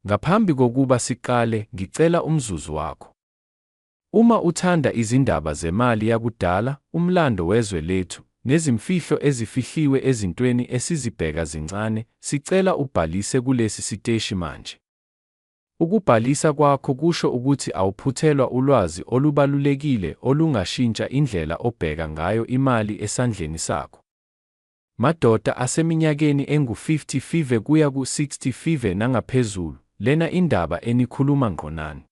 Ngaphambi kokuba siqale, ngicela umzuzu wakho. Uma uthanda izindaba zemali yakudala, umlando wezwe lethu, nezimfihlo ezifihliwe ezintweni esizibheka zincane, sicela ubhalise kulesi siteshi manje. Ukubhalisa kwakho kusho ukuthi awuphuthelwa ulwazi olubalulekile olungashintsha indlela obheka ngayo imali esandleni sakho. Madoda aseminyakeni engu 50 five kuya ku 60 five nangaphezulu, lena indaba enikhuluma ngqo nani.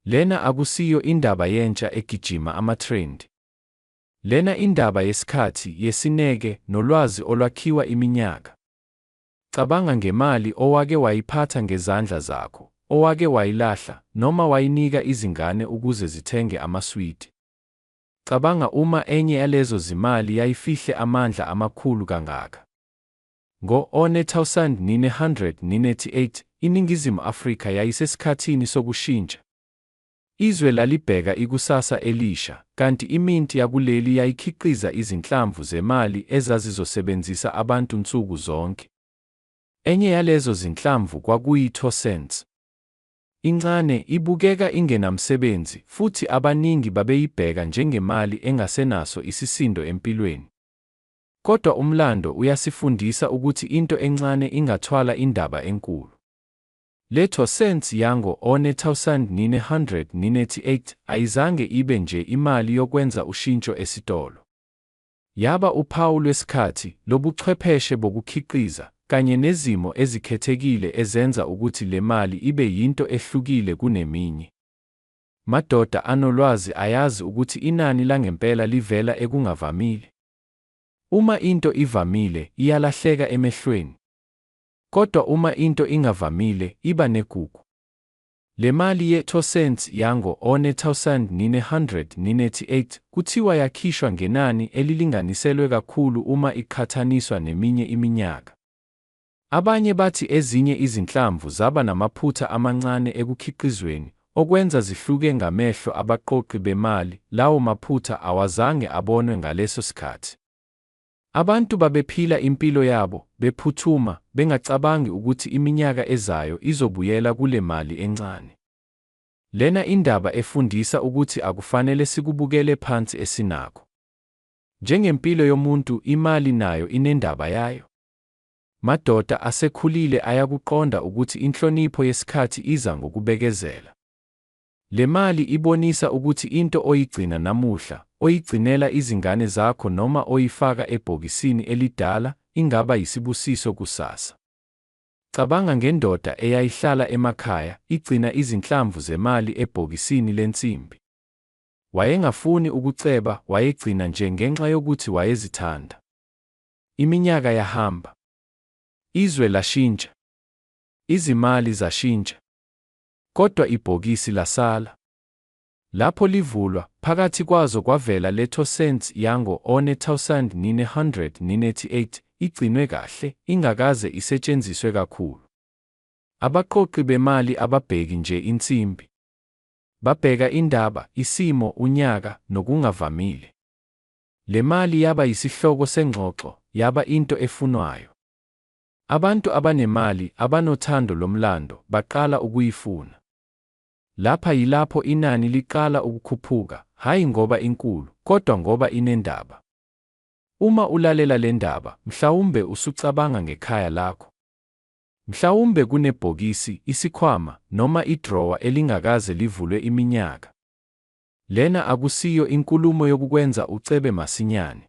Lena akusiyo indaba yentsha egijima ama trend. Lena indaba yesikhathi, yesineke, nolwazi olwakhiwa iminyaka. Cabanga ngemali owake wayiphatha ngezandla zakho, owake wayilahla, noma wayinika izingane ukuze zithenge amaswidi. Cabanga uma enye yalezo zimali yayifihle amandla amakhulu kangaka. Ngo-1988, iNingizimu Afrika yayisesikhathini sokushintsha. Izwe lalibheka ikusasa elisha, kanti iminti yakuleli yayikhiqiza izinhlamvu zemali ezazizosebenzisa abantu nsuku zonke. Enye yalezo zinhlamvu kwakuyi-two cents. Incane, ibukeka ingenamsebenzi, futhi abaningi babeyibheka njengemali engasenaso isisindo empilweni. Kodwa umlando uyasifundisa ukuthi into encane ingathwala indaba enkulu. Letho cents yango one thousand nine hundred ninety eight ayizange ibe nje imali yokwenza ushintsho esitolo. Yaba uphawu lwesikhathi, lobuchwepheshe bokukhiqiza, kanye nezimo ezikhethekile ezenza ukuthi le mali ibe yinto ehlukile kuneminye. Madoda anolwazi ayazi ukuthi inani langempela livela ekungavamile. Uma into ivamile, iyalahleka emehlweni. Kodwa uma into ingavamile, iba negugu. Le mali ye-two cents yango-1998 kuthiwa yakhishwa ngenani elilinganiselwe kakhulu uma iqhathaniswa neminye iminyaka. Abanye bathi ezinye izinhlamvu zaba namaphutha amancane ekukhiqizweni, okwenza zihluke ngamehlo abaqoqi bemali, lawo maphutha awazange abonwe ngaleso sikhathi. Abantu babephila impilo yabo, bephuthuma, bengacabangi ukuthi iminyaka ezayo izobuyela kule mali encane. Lena indaba efundisa ukuthi akufanele sikubukele phansi esinakho. Njengempilo yomuntu, imali nayo inendaba yayo. Madoda asekhulile ayakuqonda ukuthi inhlonipho yesikhathi iza ngokubekezela. Le mali ibonisa ukuthi into oyigcina namuhla, oyigcinela izingane zakho noma oyifaka ebhokisini elidala ingaba yisibusiso kusasa. Cabanga ngendoda eyayihlala emakhaya igcina izinhlamvu zemali ebhokisini lensimbi. Wayengafuni ukuceba, wayegcina nje ngenxa yokuthi wayezithanda. Iminyaka yahamba. Izwe lashintsha. Izimali zashintsha. Kodwa ibhokisi lasala. Lapho livulwa, phakathi kwazo kwavela le Toussaint yango 1998, igcinwe kahle, ingakaze isetshenziswe kakhulu. Abaqoqi bemali ababheki nje insimbi. Babheka indaba, isimo, unyaka, nokungavamile. Le mali yaba yisihloko sengxoxo, yaba into efunwayo. Abantu abanemali, abanothando lomlando, baqala ukuyifuna. Lapha yilapho inani liqala ukukhuphuka, hhayi ngoba inkulu, kodwa ngoba inendaba. Uma ulalela le ndaba, mhlawumbe usucabanga ngekhaya lakho. Mhlawumbe kunebhokisi, isikhwama, noma idrowa elingakaze livulwe iminyaka. Lena akusiyo inkulumo yokukwenza ucebe masinyane.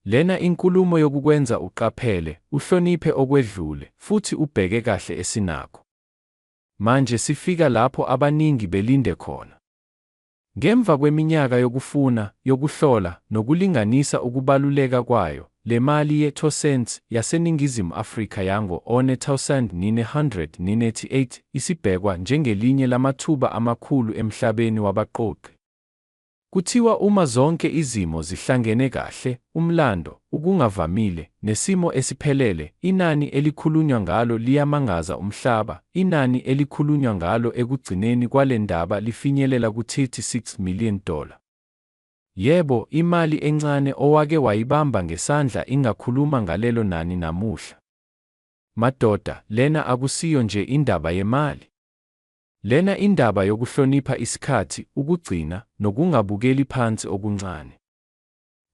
Lena inkulumo yokukwenza uqaphele, uhloniphe okwedlule, futhi ubheke kahle esinakho. Manje sifika lapho abaningi belinde khona. Ngemva kweminyaka yokufuna, yokuhlola, nokulinganisa ukubaluleka kwayo, le mali ye two cents yaseNingizimu Afrika yango 1998 isibhekwa njengelinye lamathuba amakhulu emhlabeni wabaqoqi. Kuthiwa uma zonke izimo zihlangene kahle, umlando, ukungavamile, nesimo esiphelele, inani elikhulunywa ngalo liyamangaza umhlaba. Inani elikhulunywa ngalo ekugcineni kwale ndaba lifinyelela ku-36 million dollar. Yebo, imali encane owake wayibamba ngesandla ingakhuluma ngalelo nani namuhla. Madoda, lena akusiyo nje indaba yemali. Lena indaba yokuhlonipha isikhathi, ukugcina, nokungabukeli phansi okuncane.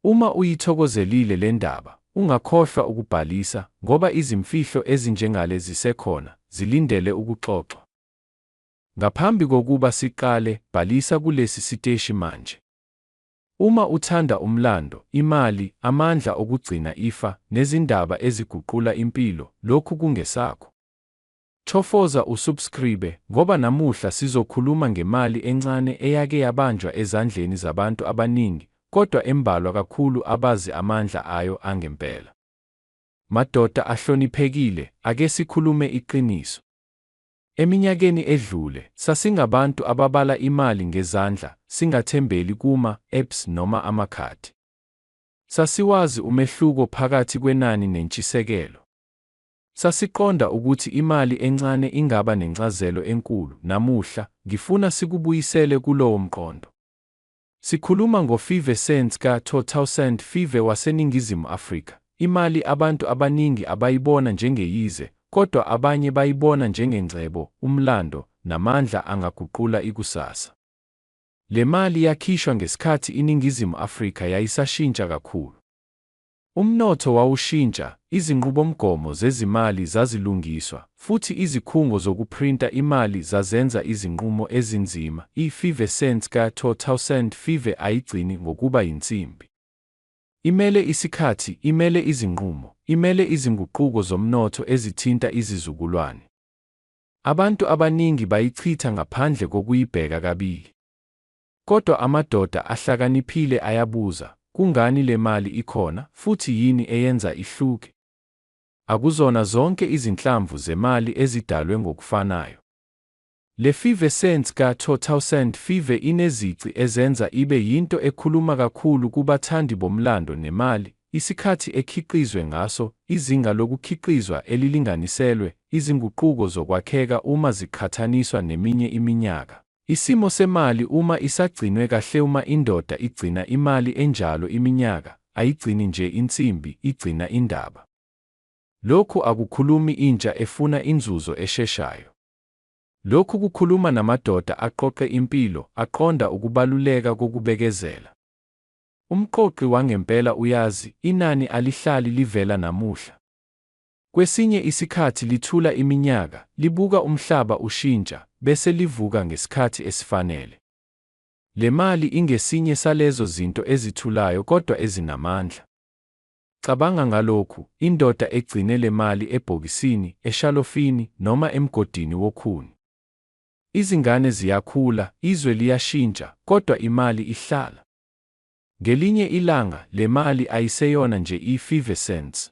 Uma uyithokozelile le ndaba, ungakhohlwa ukubhalisa, ngoba izimfihlo ezinjengale zisekhona, zilindele ukuxoxwa. Ngaphambi kokuba siqale, bhalisa kulesi siteshi manje. Uma uthanda umlando, imali, amandla okugcina ifa, nezindaba eziguqula impilo, lokhu kungesakho. Chofoza usubscribe ngoba namuhla sizokhuluma ngemali encane eyake yabanjwa ezandleni zabantu abaningi kodwa embalwa kakhulu abazi amandla ayo angempela. Madoda ahloniphekile ake sikhulume iqiniso. Eminyakeni edlule sasingabantu ababala imali ngezandla singathembeli kuma, apps noma amakhadi. Sasiwazi umehluko phakathi kwenani nentshisekelo. Sasiqonda ukuthi imali encane ingaba nencazelo enkulu. Namuhla, ngifuna sikubuyisele kulowo mqondo. Sikhuluma ngo-five cents ka-2000 five waseNingizimu Afrika, imali abantu abaningi abayibona njengeyize, kodwa abanye bayibona njengengcebo, umlando, namandla angaguqula ikusasa. Le mali yakhishwa ngesikhathi iNingizimu Afrika yayisashintsha kakhulu. Umnotho wawushintsha, izinqubomgomo zezimali zazilungiswa, futhi izikhungo zokuphrinta imali zazenza izinqumo ezinzima. I-Five Cents ka-2005 ayigcini ngokuba yinsimbi. Imele isikhathi, imele izinqumo, imele izinguquko zomnotho ezithinta izizukulwane. Abantu abaningi bayichitha ngaphandle kokuyibheka kabili. Kodwa amadoda ahlakaniphile ayabuza, Kungani le mali ikhona, futhi yini eyenza ihluke? Akuzona zonke izinhlamvu zemali ezidalwe ngokufanayo. Le five cents ka-2005 inezici ezenza ibe yinto ekhuluma kakhulu kubathandi bomlando nemali, isikhathi ekhiqizwe ngaso, izinga lokukhiqizwa elilinganiselwe, izinguquko zokwakheka uma ziqhathaniswa neminye iminyaka. Isimo semali uma isagcinwe kahleUma indoda igcina imali enjalo iminyaka, ayigcini nje insimbi, igcina indaba. Lokhu akukhulumi intsha efuna inzuzo esheshayo. Lokhu kukhuluma namadoda aqoqe impilo, aqonda ukubaluleka kokubekezela. Umqoqi wangempela uyazi, inani alihlali livela namuhla. Kwesinye isikhathi lithula iminyaka, libuka umhlaba ushintsha, bese livuka ngesikhathi esifanele. Le mali ingesinye salezo zinto ezithulayo kodwa ezinamandla. Cabanga ngalokhu, Indoda egcine le mali ebhokisini, eshalofini, noma emgodini wokhuni. Izingane ziyakhula, izwe liyashintsha, kodwa imali ihlala. Ngelinye ilanga, le mali ayiseyona nje i-five cents.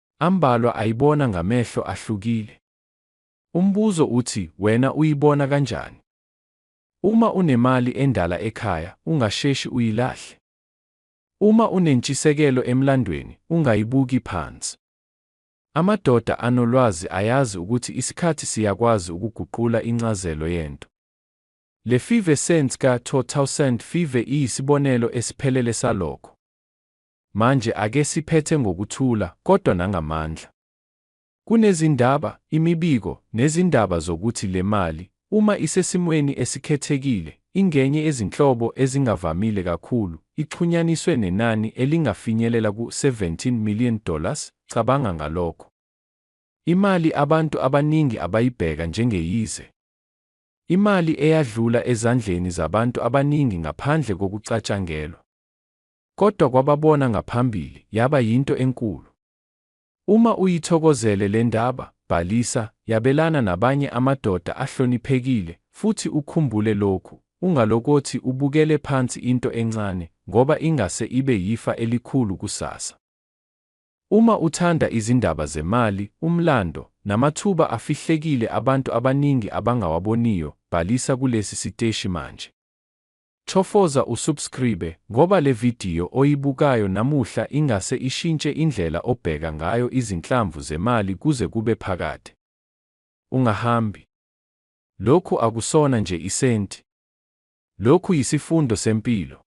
Ambalwa ayibona ngamehlo ahlukile. Umbuzo uthi wena uyibona kanjani? Uma unemali endala ekhaya, ungasheshi uyilahle. Uma unentshisekelo emlandweni, ungayibuki phansi. Amadoda anolwazi ayazi ukuthi isikhathi siyakwazi ukuguqula incazelo yento. Le Five Cents ka-2000 Five iyisibonelo esiphelele salokho. Manje ake siphethe ngokuthula, kodwa nangamandla. Kunezindaba, imibiko, nezindaba zokuthi lemali, uma isesimweni esikhethekile, ingenye yezinhlobo ezingavamile kakhulu, ixhunyaniswe nenani elingafinyelela ku 17 million dollars, cabanga ngalokho. Imali abantu abaningi abayibheka njengeyize. Imali eyadlula ezandleni zabantu abaningi ngaphandle kokucatshangelwa. kodwa kwababona ngaphambili yaba yinto enkulu. Uma uyithokozele le ndaba, bhalisa, yabelana nabanye amadoda ahloniphekile, futhi ukhumbule lokhu, Ungalokothi ubukele phansi into encane, ngoba ingase ibe yifa elikhulu kusasa. Uma uthanda izindaba zemali, umlando, namathuba afihlekile abantu abaningi abangawaboniyo, bhalisa kulesi siteshi manje. Chofoza usubscribe ngoba le video oyibukayo namuhla ingase ishintshe indlela obheka ngayo izinhlamvu zemali kuze kube phakade. Ungahambi. Lokhu akusona nje isenti. Lokhu yisifundo sempilo.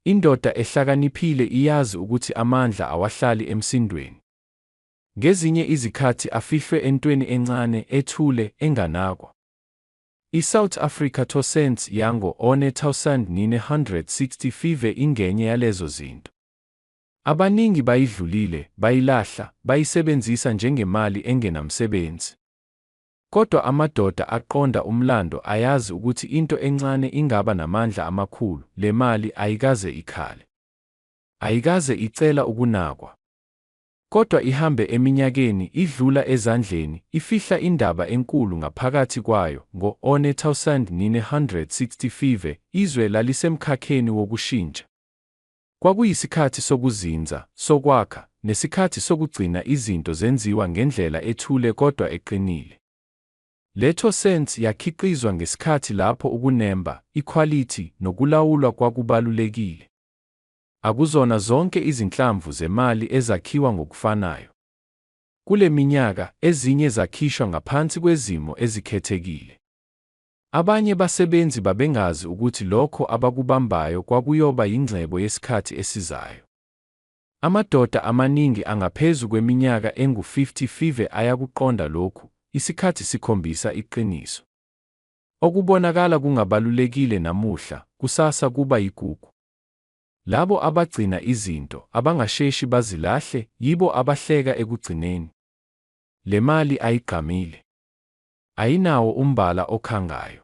Indoda ehlakaniphile iyazi ukuthi amandla awahlali emsindweni. Ngezinye izikhathi afihlwe entweni encane, ethule, enganakwa. I-South Africa Tossens yango-1965 ingenye yalezo zinto. Abaningi bayidlulile, bayilahla, bayisebenzisa njengemali engenamsebenzi. Kodwa amadoda aqonda umlando ayazi ukuthi into encane ingaba namandla amakhulu, le mali ayikaze ikhale. Ayikaze icela ukunakwa. Kodwa ihambe eminyakeni, idlula ezandleni, ifihla indaba enkulu ngaphakathi kwayo. Ngo-1965, izwe lalisemkhakheni wokushintsha. Kwakuyisikhathi sokuzinza, sokwakha, nesikhathi sokugcina izinto zenziwa ngendlela ethule kodwa eqinile. Leto Sense yakhiqizwa ngesikhathi lapho ukunemba, ikhwalithi, nokulawulwa kwakubalulekile. Akuzona zonke izinhlamvu zemali ezakhiwa ngokufanayo. Kule minyaka, ezinye zakhishwa ngaphansi kwezimo ezikhethekile. Abanye basebenzi babengazi ukuthi lokho abakubambayo kwakuyoba yingcebo yesikhathi esizayo. Amadoda amaningi angaphezu kweminyaka engu-55 ayakuqonda lokhu, Isikhathi sikhombisa iqiniso. Okubonakala kungabalulekile namuhla, kusasa kuba yigugu. Labo abagcina izinto, abangasheshi bazilahle, yibo abahleka ekugcineni. Le mali ayigqamile. Ayinawo umbala okhangayo.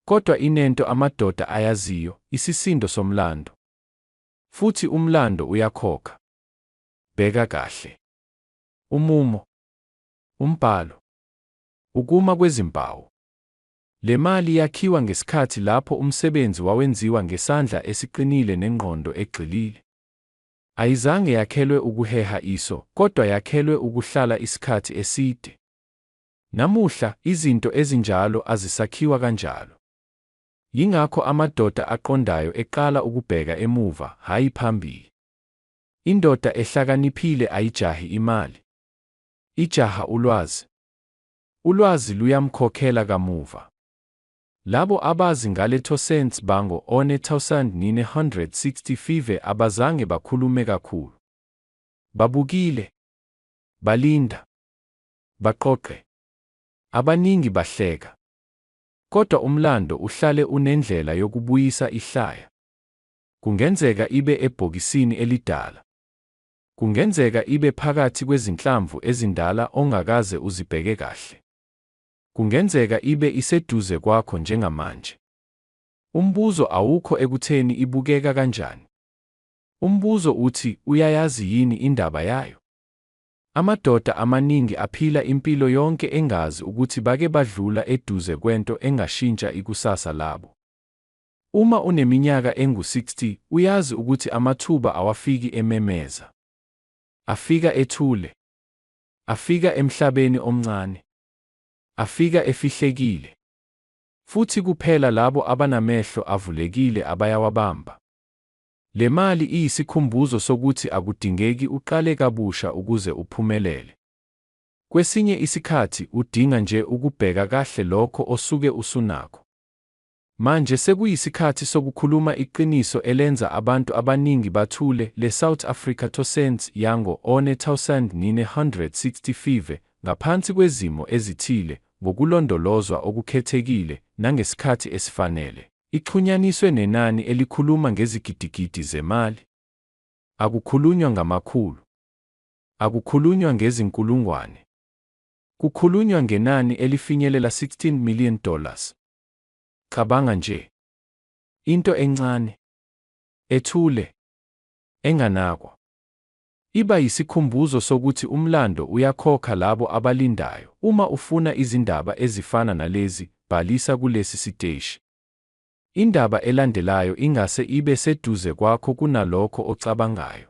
Kodwa inento amadoda ayaziyo, isisindo somlando. Futhi umlando uyakhokha. Bheka kahle. Umumo. Umbhalo. Ukuma kwezimpawu. Le mali yakhiwa ngesikhathi lapho umsebenzi wawenziwa ngesandla esiqinile nengqondo egxilile. Ayizange yakhelwe ukuheha iso, kodwa yakhelwe ukuhlala isikhathi eside. Namuhla, izinto ezinjalo azisakhiwa kanjalo. Yingakho amadoda aqondayo eqala ukubheka emuva, hhayi phambili. Indoda ehlakaniphile ayijahi imali. Ijaha ulwazi. Ulwazi luyamkhokhela kamuva. Labo abazi ngale Toussaint bango 1965 abazange bakhulume kakhulu. Babukile. Balinda. Baqoqe. Abaningi bahleka. Kodwa umlando uhlale unendlela yokubuyisa ihlaya. Kungenzeka ibe ebhokisini elidala. Kungenzeka ibe phakathi kwezinhlamvu ezindala ongakaze uzibheke kahle. Kungenzeka ibe iseduze kwakho njengamanje. Umbuzo awukho ekutheni ibukeka kanjani. Umbuzo uthi uyayazi yini indaba yayo? Amadoda amaningi aphila impilo yonke engazi ukuthi bake badlula eduze kwento engashintsha ikusasa labo. Uma uneminyaka engu-60, uyazi ukuthi amathuba awafiki ememeza. Afika ethule. Afika emhlabeni omncane. Afika efihlekile. Futhi kuphela labo abanamehlo avulekile abayawabamba. Le mali iyisikhumbuzo sokuthi akudingeki uqale kabusha ukuze uphumelele. Kwesinye isikhathi udinga nje ukubheka kahle lokho osuke usunakho. Manje sekuyisikhathi sokukhuluma iqiniso elenza abantu abaningi bathule, le South Africa to Saints yango 1965, ngaphansi kwezimo ezithile, ngokulondolozwa okukhethekile, nangesikhathi esifanele, ixhunyaniswe nenani elikhuluma ngezigidigidi zemali. Akukhulunywa ngamakhulu. Akukhulunywa ngezinkulungwane. Kukhulunywa ngenani elifinyelela 16 million dollars. Cabanga nje. Into encane, ethule, enganakwa. Iba yisikhumbuzo sokuthi umlando uyakhokha labo abalindayo. Uma ufuna izindaba ezifana nalezi, bhalisa kulesi siteshi. Indaba elandelayo ingase ibe seduze kwakho kunalokho ocabangayo.